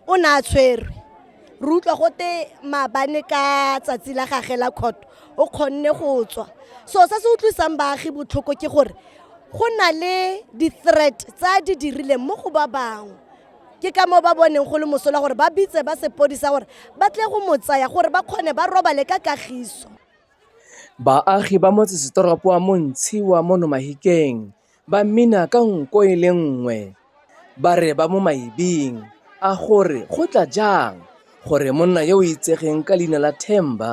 o ne a tshwerwe re utlwa gote maabane ka tsatsi la gage la khoto o kgonne go tswa so se se utlwisang baagi botlhoko ke gore go na le di-threat tsa di dirileng mo go ba bangwe ke ka moo ba boneng go le mosola gore ba bitse ba sepodisa gore ba tle go mo tsaya gore ba kgone ba robale ka kagiso Baagi ba motsesetoropo wa Montshiwa mo Nomahikeng Ba mmina ka nko e le nngwe ba re ba mo maibing a gore go tla jang gore monna yo o itsegeng ka leina la Themba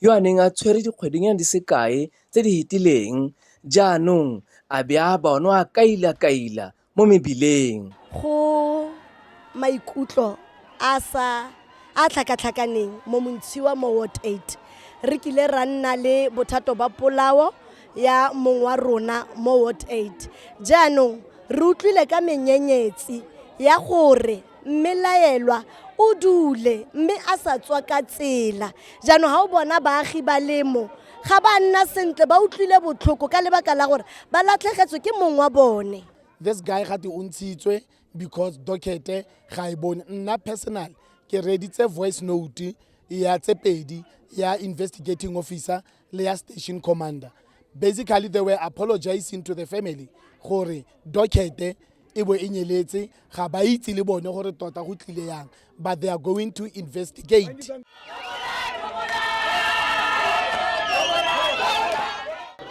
yo a neng a tshwere dikgwedinyana di sekae tse di hetileng jaanong a be a bonwa a kaila-kaila mo mebileng. Go maikutlo a sa a tlhakatlhakaneng mo Montshiwa mo Ward 8 re kile ra nna le bothato ba polao ya mong wa rona mo ward 8 jaanong re utlwile ka menyenyetsi ya gore mme laelwa o dule mme a sa tswa ka tsela jaanong ga o bona baagi ba lemo ga ba nna sentle ba utlwile botlhoko ka lebaka la gore ba latlhegetswe ke mong wa bone this guy ga te o ntshitswe because docket ga e bone nna personal ke reditse voice note ya tse pedi ya investigating officer le ya station commander basically they were apologizing to the family gore docket e bo e nyeletse ga ba itse le bone gore tota go tlile yang but they are going to investigate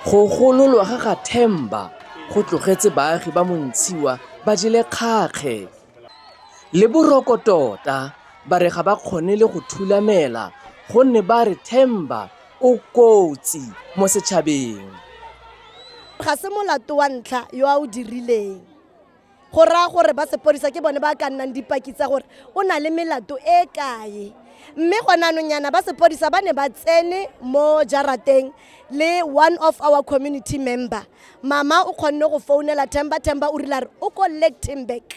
go gololwa ga ga themba go tlogetse baagi ba montshiwa ba jele kgakge le boroko tota ba re ga ba kgone le go thulamela gonne ba re themba o kotsi mo setšhabeng. Ga se molato wa ntlha yo a o dirileng. Go raya gore ba sepodisa ke bone ba ka nnang dipaki tsa gore o na le melato e kae. Mme gone anong yana ba sepodisa ba ne ba tsene mo jarateng le one of our community member. Mama o kgonne go founela Themba, Themba o rile a re o ko Lichtenburg.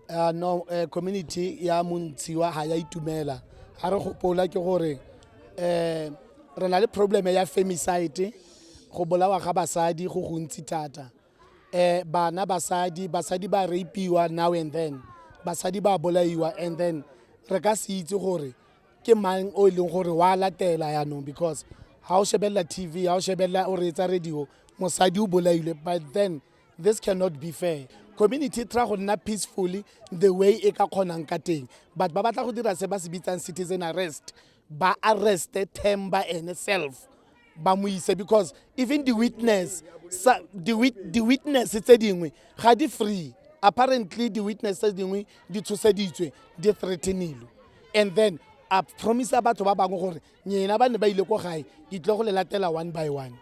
Uh, no uh, community ya montshiwa ga ya itumela ga re gopola ke gore um re na le probleme ya femicide go bolawa ga basadi go gontsi thata um bana basadi basadi ba rapiwa now and then basadi ba bolaiwa and then re ka se itse gore ke mang o e leng gore wa latela yaanong because ga o shebelela tv ga o shebelela o reetsa radio mosadi o bolailwe but then this cannot be fair community try go nna peacefully the way e ka kgonang ka teng but ba batla go dira se ba se bitsang citizen arrest ba arreste themba ene self ba mo ise because even the witness sa, the, wit, the witness tse dingwe ga di free apparently the witness tse dingwe di tshoseditswe di threatenilwe and then a promise batho ba bangwe gore nyena ba ne ba ile ko gae ke tle go le latela one by one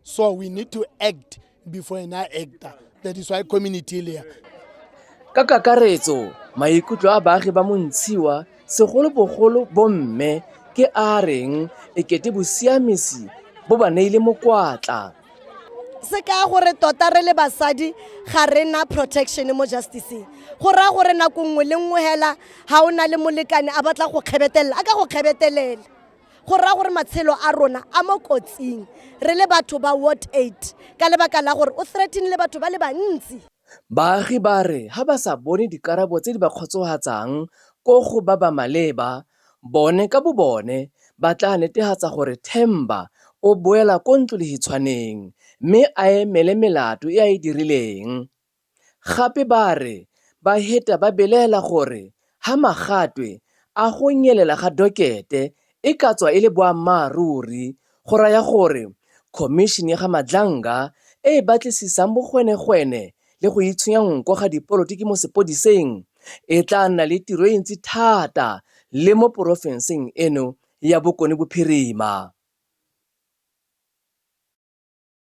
so we need to act before ena acta that is why community le ka kakaretso maikutlo a baagi ba montshiwa segolobogolo bomme ke a reng e kete bosiamisi bo ba neile mokwatla se ka gore tota re le basadi ga re na protection mo justiceng go raya gore nako nngwe le nngwe fela ga o na le molekane a batla go kgebetelela a ka go kgebetelela go raya gore matshelo a rona a mo kotsing re le batho ba ward 8 ka lebaka la gore o threatenile batho ba le bantsi Baagi ba re ha ba sa bone dikarabo tse di ba kgotsofatsang ko go ba ba maleba, bone ka bobone ba tla netehatsa gore Themba o boela ko ntlolehitshwaneng mme a emele melato e a e dirileng. Gape ba re baheta ba belaela gore ha magatwe a go nyelela ga dokete e ka tswa e le boammaaruri go raya gore Khomišene ya ga Madlanga e e batlisisang bogwenegwene le go itshonya nko ga dipolotiki mo sepodiseng e tla nna le tiro e ntsi thata le mo porofenseng eno ya Bokone Bophirima.